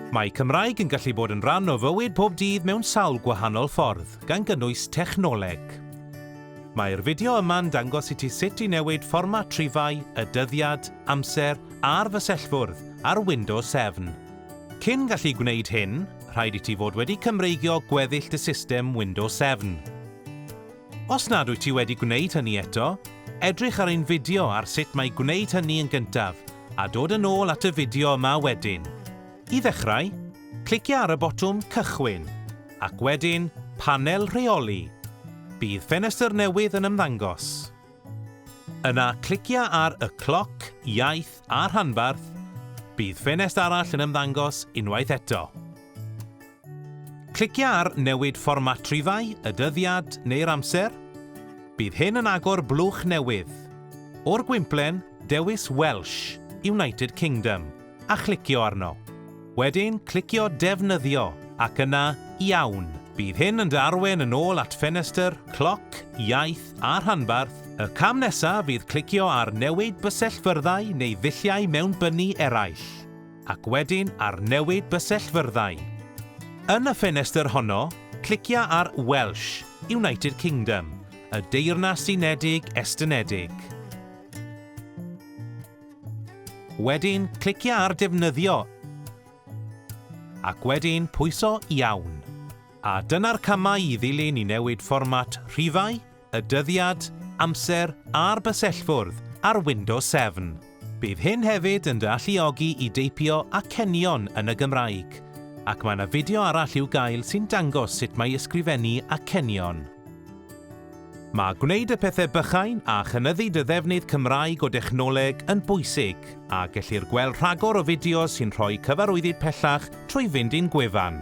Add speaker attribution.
Speaker 1: Mae Cymraeg yn gallu bod yn rhan o fywyd pob dydd mewn sawl gwahanol ffordd, gan gynnwys technoleg. Mae'r fideo yma'n dangos i ti sut i newid fformat rhifau, y dyddiad, amser a'r fysellfwrdd ar Windows 7. Cyn gallu gwneud hyn, rhaid i ti fod wedi cymreigio gweddill dy system Windows 7. Os nad wyt ti wedi gwneud hynny eto, edrych ar ein fideo ar sut mae gwneud hynny yn gyntaf a dod yn ôl at y fideo yma wedyn. I ddechrau, clicia ar y botwm Cychwyn, ac wedyn Panel Rheoli. Bydd ffenestr newydd yn ymddangos. Yna clicia ar y cloc, iaith a rhanbarth, bydd ffenest arall yn ymddangos unwaith eto. Clicia ar Newid Fformat Rhifau, y Dyddiad neu'r Amser, bydd hyn yn agor blwch newydd. O'r gwymplen, dewis Welsh, United Kingdom. a chlicio arno. Wedyn clicio Defnyddio ac yna Iawn. Bydd hyn yn dy arwain yn ôl at ffenestr, cloc, iaith a rhanbarth. Y cam nesaf fydd clicio ar Newid Bysellfyrddau neu ddulliau mewnbynnu eraill, ac wedyn ar Newid Bysellfyrddau. Yn y ffenestr honno, clicia ar Welsh, United Kingdom, y Deyrnas Unedig Estynedig. Wedyn, clicia ar Defnyddio ac wedyn pwyso Iawn. A dyna'r camau i ddilyn i newid fformat rhifau, y dyddiad, amser a'r bysellfwrdd ar Windows 7. Bydd hyn hefyd yn dy alluogi i deipio acenion yn y Gymraeg, ac mae yna fideo arall i'w gael sy'n dangos sut mae ysgrifennu acenion. Mae gwneud y pethau bychain a chynyddu dy ddefnydd Cymraeg o dechnoleg yn bwysig, a gellir gweld rhagor o fideos sy'n rhoi cyfarwyddyd pellach trwy fynd i'n gwefan.